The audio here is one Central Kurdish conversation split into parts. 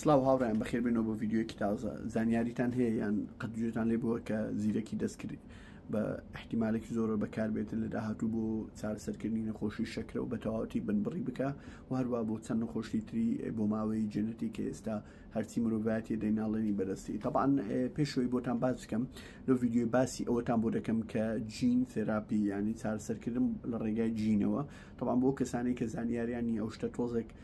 سلااو هاوڕیان بەخێبێنەوە بۆ ڤیددیوەکی تازە زانیاریتان هەیە یان قەتگوێتان لێ بووە کە زیرەکی دەستکرد بە احتیمالێکی زۆرە بەکاربێتن لە داهاتوو بۆ چارەسەرکردنی نەخۆشی شەکرە و بەتەواوەتی بنبڕی بکە و هەروە بۆ چەند نەخۆشی تری بۆ ماوەی جێنەتی کە ئێستا هەرچی مرۆڤایەتی دەیناڵێنی بەدەستی تەبان پێشەوەی بۆتان باز بکەم لە ڤیددیوی باسی ئەوەتان بۆ دەکەم کە جین تێراپی ینی چارەسەرکردن لە ڕێگای جینەوە تەبان بۆ کەسانی کە زانیاریانی ئەو شتە تۆزێک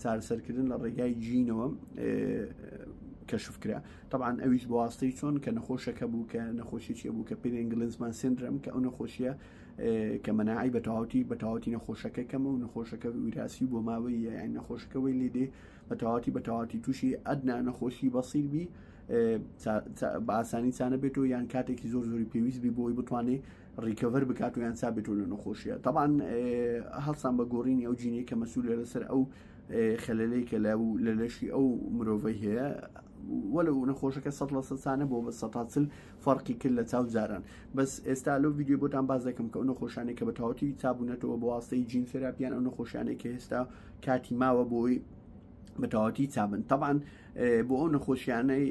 چارەسەرکردن لە ڕێگای جینەوە کەشف کرا طبعاان ئەویش بۆواستەی چۆن کە نەخۆشەکە بوو کە نەخۆشیی بوو کە پێێن گلنزمان سندرم کە ئەو نەخۆشیە کە مەناعی بە تەواوتی بە تەواتی نەخۆشەکە کەمە و نەخۆشەکە وراسی بۆ ماوەی یان نەخۆشەکەەوەی لێدێ بە تەواتی بە تەواتی تووشی ئەدنا نەخۆشی بەسیر بی باسانی چانە بێتەوە یان کاتێکی زۆر زۆری پێویست بی بۆی بتوانێت ڕیکەڤەر بکات و یان سابێت و لە نەخۆشیە تاوان هەڵسان بە گۆڕینی ئەو جینی کە مەسوولە لەسەر ئەو خەلەلەی کە لە و لە لەشی ئەو مرۆڤی هەیە وەلە و نەخۆشەکە سە لە سەسانە بۆ بە سەتاچل فەرقی کرد لە چاو جاران بەس ئێستا لەو ویددیو بۆتان باز دەکەم کە ئەو نەخۆشانێک کە بە تاوەتی چابوونەتەوە بۆ واستەی جین سراپیان ئەو نەخۆشانێک کە هێستا کاتی ماوە بۆی بەتەواتی چابن تەبان بۆ ئەو نەخۆشیانەی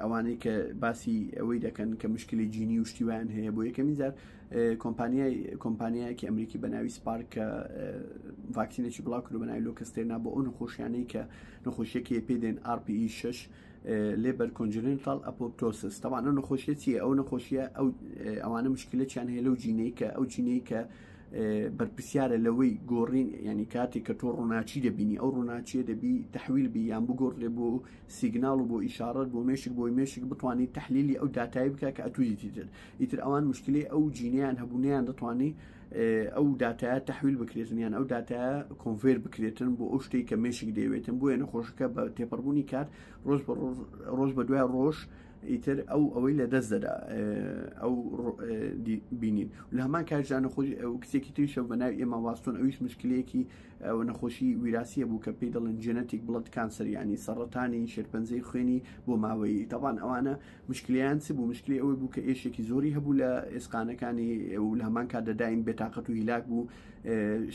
ئەوانەی کە باسی ئەوەی دەکەن کە مشکلی جینی و شتیوان هەیە بۆ یەکەمی جار کۆمپانیای کۆمپانیایەکی ئەمریکی بە ناوی سپارک کە ڤاکسینێکی بڵاو کرد بە ناوی لۆکەستێنا بۆ ئەو نەخۆشیانەی کە نەخۆشیەکی پێ دێن RPE 6 لێبەر کۆنجنتال ئەپۆپتۆسس تەوانە نەخۆشیەتی ئەو نەخۆشیە ئەو ئەوانە مشکلەچیان هەیە لەو جینەی کە ئەو جینەی کە بەرپسیارە لەوەی گۆڕین ینی کاتێک کە تۆ ڕووناچی دەبینی ئەو ڕووناچیە دەبی تحویل بی یان بگۆڕ لێ بۆ سیگنال و بۆ ئیشارەت بۆ مێشک بۆی مێشک بتانی تحلیلی ئەو دااتایی بکە کە ئەتویتی تر ئیتر ئەوان مشکلی ئەو جینیان هەبوونیان دەتوانی ئەو دااتایە تحویل بکرێتن یان ئەو دااتایە کۆنفێر بکرێتن بۆ ئەو شتێک کە مێشک دەوێتن بۆیە نەخۆشەکە بە تێپەڕبوونی کات ڕۆژ ڕۆژ بە دوای ڕۆژ ڕۆژ ئیتر ئەو ئەوەی لە دەست دەدا ئەو بینین لە هەمان کارژان نەخۆش ئەو کچێکی تریشە بە ناو ئێمە واستۆن ئەویش مشکلەیەکی ئەوە نەخۆشی ویراسیە بوو کە پێی دەڵێن جەنەتیک بڵەت کانسەریانی سەڕەتانی شێرپەنجەی خوێنی بۆ ماوەیی تاوان ئەوانە مشکلیان چ بوو مشکلی ئەوەی بوو کە ئێشێکی زۆری هەبوو لە ئێسقانەکانی ئەو لە هەمان کاتدەدایم بێتاقەت و هیلاک بوو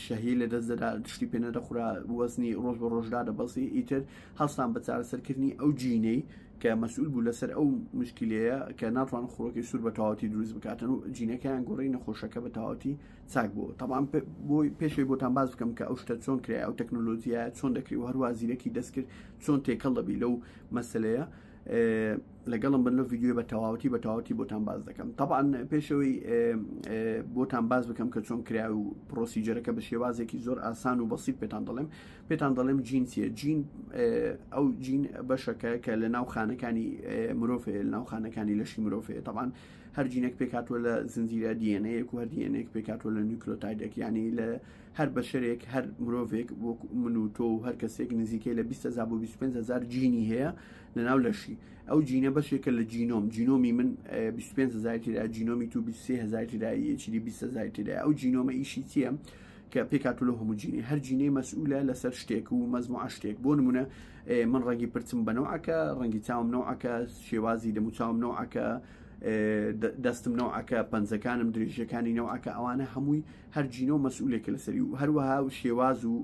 شەهی لە دەست دەدا دشتی پێنەدەخورا وەزنی ڕۆژ بە ڕۆژدا دەبەسی ئیتر هەستان بە چارەسەرکردنی ئەو جینەی کە مەسئول بوو لەسەر ئەو مشکلەیە کە ناتوان خڕۆکی سوور بە تەواتی دروست بکاتن و جینەکەیان گۆڕی نەخۆشەکە بە تەواتی چاک بوو تەوان بۆی پێشەوەی بۆتان باز بکەم کە ئەو شتە چۆن کرای ئەو تەکنۆلۆژیایە چۆن دەکری و هەروە زیرەکی دەستکرد چۆن تێکەڵ دەبی لەو مەسلەیە لەگەڵم بن لە ڤیددیو بە تەواوەتی بە تەواتی بۆتان باز دەکەم تاان پێشەوەی بۆتان باز بکەم کە چۆن کرا و پرۆسیجەرەکە بە شێوازێکی زۆر ئاسان و بەسییت پێتان دەڵێم پێتان دەڵێم جین چیە جین ئەو جین بەشەکە کە لە ناو خانەکانی مرۆڤێ لە ناو خانەکانی لەشی مرۆڤێ تەبان هەر جینێک پێکاتوە لە زنجیرە دیێنەیەک و هەر دیێنێک پێکاتوە لە نیکلۆتایدێک ینی لە هەر بەشەرێک هەر مرۆڤێک وەک من و تۆ و هەر کەسێک نزیکەی لە 20 زاب و 25 هزار جینی هەیە لە ناو لەشی ئەو جینە بەشێکە لە جینۆم جینۆمی من 25 هزار تیدا جینۆمی تو 23 هزار تدایە چی 20 هزار تدای ئەو جینۆمە ئیشی چیە؟ کە پێکاتولە هۆموجینی هەر جینەی مەسئولە لەسەر شتێک و مەزموعە شتێک بۆ نمونە من ڕەنگی پرچم بەنەوەکە ڕەنگی چاوم نەوەکە شێوازی دەموچاوم نەوەکە دەستم نەوەکە پەنجەکانم درێژەکانی نەوەکە ئەوانە هەمووی هەر جینۆ مەسئولێکە لەسەری و هەروەها و شێواز و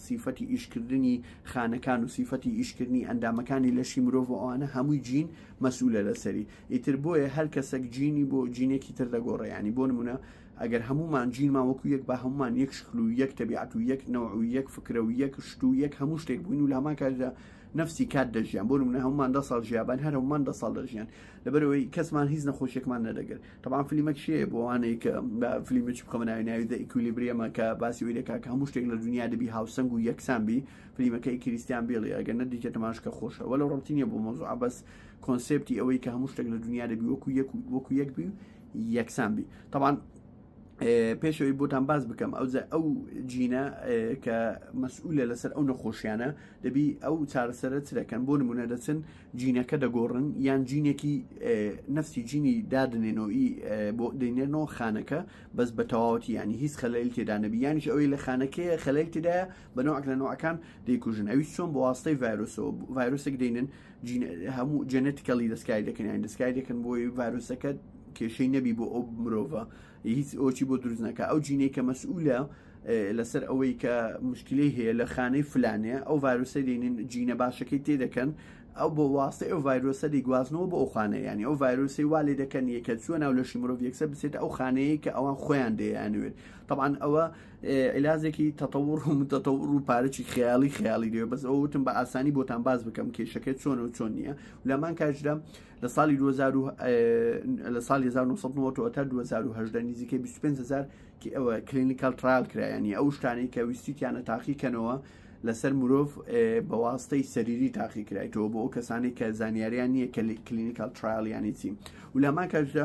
سیفەتی ئیشکردنی خانەکان و سیفەتی ئیشکردنی ئەندامەکانی لەشی مرۆڤ و ئەوانە هەمووی جین مەسئولە لەسەری ئیتر بۆیە هەر کەسەک جینی بۆ جینێکی تر دەگۆڕێ ینی بۆ نمونە ئەگەر هەموومان جینمان وەکو یەک با هەموومان یەک شکل و یەک تەبیعەت و یەک نەوع و یەک فکرە و یەک شت و یەک هەموو شتێک بووین و لامان کاتدا نفسی کات دەژیان بۆ منە هەمومان دە ساڵ ژیابان هەر هەمومان دە ساڵ دەژیان لەبەرەوەی کەسمان هیچ نەخۆشیێکمان نەدەگرت تەبان فلیمە کشێ بۆوانەی کە فلیمە چ بخەمە ناوی ناوی دە ئیکولیبریەمە کە باسی وی دەکا کە هەموو شتێک لە دنیا دەبی هاوسەنگ و یەکسان بی فلیمەکەی کریسیان بێڵی ئەگەر نەدیکە تەماشکە خۆشە وەلە ڕەتی نیە بۆ مۆزوع بەس کۆنسپتی ئەوەی کە هەموو شتێک لە دنیا دەبی وەکو یەک وەکو یەک بی یەکسان بی تاوان پێشەوەی بۆتان باز بکەم ئەو ئەو جینە کە مەسئولە لەسەر ئەو نەخۆشیانە دەبی ئەو چارەسەرە چ دەکەن بۆ نمونە دەچن جینەکە دەگۆڕن یان جینێکی نفسی جینی دادنێنەوەی بۆ دەینێنەوە خانەکە بەس بە تەواوەتی ینی هیچ خەلەیل تێدانەبی یانیش ئەوەی لە خانەکەی خەلەیل تێدایە بە نوعک لە نوعەکان دەیکوژن ئەوی چۆن بۆ واستەی ڤایرۆسەوە ڤایرۆسێک دێنن هەموو جەنەتیکەڵی دەستکاری دەکەن یان دەستکاری دەکەن بۆی ڤایرۆسەکە کێشەی نەبی بۆ ئەو مرۆڤە هیچ ئۆچی بۆ دروستنەکە ئەو جینەی کە مەسئولە لەسەر ئەوەی کە مشکلی هەیە لە خانەی فلانێ ئەو ڤایرۆسە دێنین جینە باشەکەی تێ دەکەن ئەو بۆ واستەی ئەو ڤایرۆسە دیگوازنەوە بۆ ئەو خانە ینی ئەو ڤایرۆسی وا لێ دەکەن یەکە چوە ناو لەشی مرۆڤ یەکسەر بسێت ئەو خانەیە کە ئەوان خۆیان دەیانوێت طبعاان ئەوە علاجێکی تەتەوڕ و متەتەوڕ و پارەی خیاڵی خیاڵی لێ بەس ئەوتم بە ئاسانی بۆتان باز بکەم کێشەکە چۆن و چۆن نییە لەمان کاژرا لە ساڵی 2000 لە ساڵی 1990 تا 2010 نزیکە 25هزار ئەوە کلینیکال ترال کرایانی ئەو شتانەی کە ویستیتیانە تاقی کەنەوە لەسەر مرۆڤ بە واستەی سەریری تاقی کرایتەوە بۆ ئەو کەسانی کە زانیاریان نییە کە کلینیکال ترایلیانی چی و لەمان کاژدا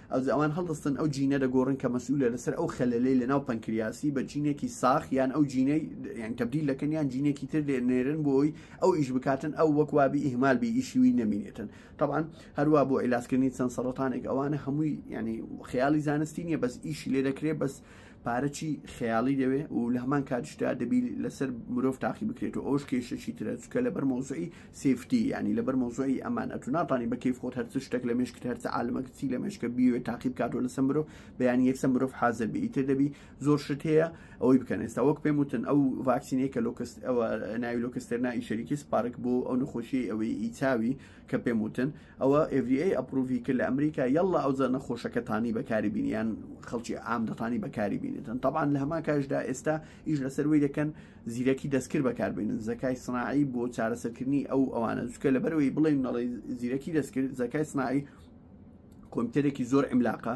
ئەوجا ئەوان هەڵدەستن ئەو جینە دەگۆڕن کە مەسئولە لەسەر ئەو خەلەلەی لەناو پەنکریاسی بە جینێکی ساخ یان ئەو جینەی یان تەبدیل دەکەن یان جینێکی تر دێنێرن بۆی ئەو ئیش بکاتن ئەو وەک وابی ئیهمال بی ئیشی وی نەمینێتن طبعا هەروە بۆ عیلاسکردنی چەند سەرەتانێک ئەوانە هەمووی ینی خەیاڵی زانستی نییە بەس ئیشی لێ دەکرێت بەس پارە چی خەیاڵی دەوێ و لە هەمان کاتشدا دەبی لەسەر مرۆڤ تاقی بکرێت و ئەوش کێشەشی ترە چکە لەبەر مۆزعی سفتی ینی لەبەر مۆزعی ئەمان ئەتو ناتانی بە کەیف خۆت هەرچ شتێک لە مێشکت هەرچە عالمە کچی لە مێشکە بیوێت تاقی بکات و لەسەر مرۆڤ بەیان یەکسە مرۆڤ حازر بی ئیتر دەبی زۆر شت هەیە ئەوەی بکەن ئێستا وەک پێم وتن ئەو ڤاکسینەیە کە لۆکست ئەوە ناوی لۆکستێرنای شەریکی سپارک بۆ ئەو نەخۆشی ئەوەی ئیچاوی کە پێم وتن ئەوە FDA ئەپروڤی کرد لە ئەمریکا یەڵا ئەو زە نەخۆشەکە تانی بەکاری بینیان خەڵکی ئام دەتانی بەکاری بینێتن طبعاان لە هەما کاشدا ئێستا ئیش لەسەروی دەکەن زیرەکی دەستکرد بەکاربێنن زەکای سناعی بۆ چارەسەرکردنی ئەو ئەوانە زوکە لەبەرەوەی بڵێن نەڵی زیرەکی دەستکرد زەکای سناعی کۆمپیوتەرێکی زۆر ئەملاقە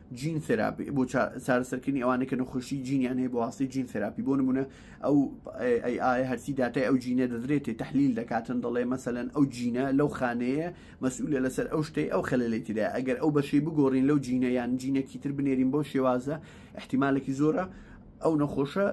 جین ثێراپی بۆ چارەسەرکردنی ئەوانەی کە نەخۆشی جینیان هەیە بۆواستی جین ثێراپی بۆ نمونە ئەو ئایا هەرسی داتای ئەو جینە دەدرێتێ تحلیل دەکاتن دەڵێ مەسەەن ئەو جینە لەو خانەیە مەسئولە لەسەر ئەو شتەی ئەو خەلەلی تدا ئەگەر ئەو بەشی بگۆڕین لەو جینە یان جینەکی تر بنێرین بۆ شێوازە احتیمالێکی زۆرە ئەو نەخۆشە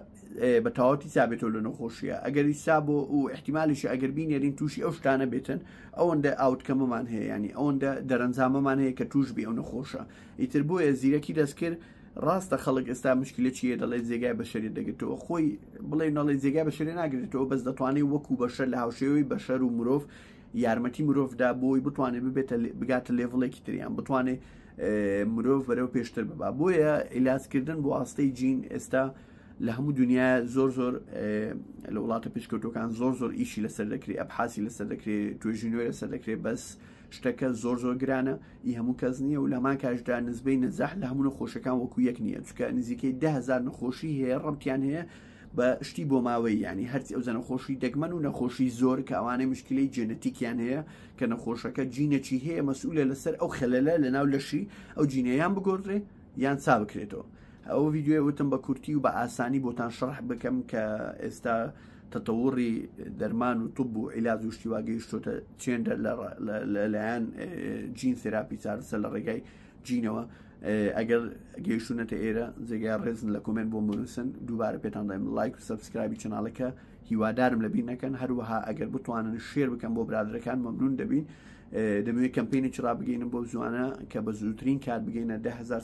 بە تاواتی سابێتەوە لە نەخۆشیە ئەگەری سا بۆ و احتیمالیش ئەگەر بینێرین تووشی ئەو شتانە بێتن ئەوەندە ئاوتکەمەمان هەیە ینی ئەوەندە دەرەنجامەمان هەیە کە توش بێ ئەو نەخۆشە ئیتر بۆیە زیرەکی دەستکرد ڕاستە خەڵک ئێستا مشکلە چیە دەڵێت جێگای بەشەری دەگرێتەوە خۆی بڵێ نەڵێ جێگای بەشەری ناگرێتەوە بەس دەتوانێت وەکو بەشەر لە هاوشێوەی بەشەر و مرۆڤ یارمەتی مرۆڤدا بۆی بتوانێت ببێتە بگاتە لێڤڵێکی تریان بتوانێت مرۆڤ بەرەو پێشتر ببا بۆیە ئیلاسکردن بۆ ئاستەی جین ئێستا لە هەموو دنیا زۆر زۆر لە وڵاتە پێشکەوتەکان زۆر زۆر ئیشی لەسەر دەکرێت ئەبحاسی لەسەر دەکرێت توێژینەوەی لەسەر دەکرێت بەس شتەکە زۆر زۆر گرانە ئی هەموو کەس نییە و لەمان کاشدا نزبەی نەزەح لە هەموو نەخۆشەکان وەکو یەک نییە چکە نزیکەی دههزار نەخۆشی هەیە ڕەبتیان هەیە بە شتی بۆ ماوەی ینی هەرچی ئەو زەنەخۆشی دەگمەن و نەخۆشی زۆر کە ئەوانەی مشکلی جێنەتیکیان هەیە کە نەخۆشەکە جینەکی هەیە مەسئولە لەسەر ئەو خەلەلە لە ناو لەشی ئەو جینەیان بگۆدرێ یان چا بکرێتەوە ئەو ویددیوێ وتم بە کورتی و بە ئاسانی بۆتان شەرح بکەم کە ئێستا تەتەوڕی دەرمان و توب و عیلاج و شتیوا گەیشتۆتە چێندە لەلایەن جین سراپی چارسە لە ڕێگای جینەوە ئەگەر گەیشتونەتە ئێرە جێگای ڕێزن لە کۆمنت بۆ منووسن دووبارە پێتان دایم لایک و سبسکرایبی چناڵەکە هیوادارم لەبی نەکەن هەروەها ئەگەر بتوانن شێر بکەم بۆ برادەکان مەمنون دەبین دەمەوێت کەمپینی چرا بگەینم بۆ زوانە کە بە زووترین کار بگەینە دههزار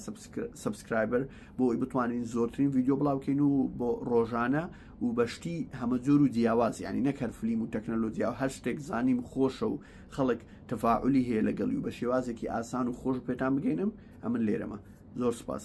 سبسکرایبەر بۆ ئەوی بتوانین زۆرترین ویددیو بڵاوکەین و بۆ ڕۆژانە و بە شتی هەمە جۆر و جیاواز یعنی نەک هەر فلیم و تەکنەلۆجیا و هەر شتێک زانیم خۆشە و خەڵک تەفاعلی هەیە لەگەڵی و بە شێوازێکی ئاسان و خۆش پێتان بگەینم ئەمن لێرەمە زۆر سپاس.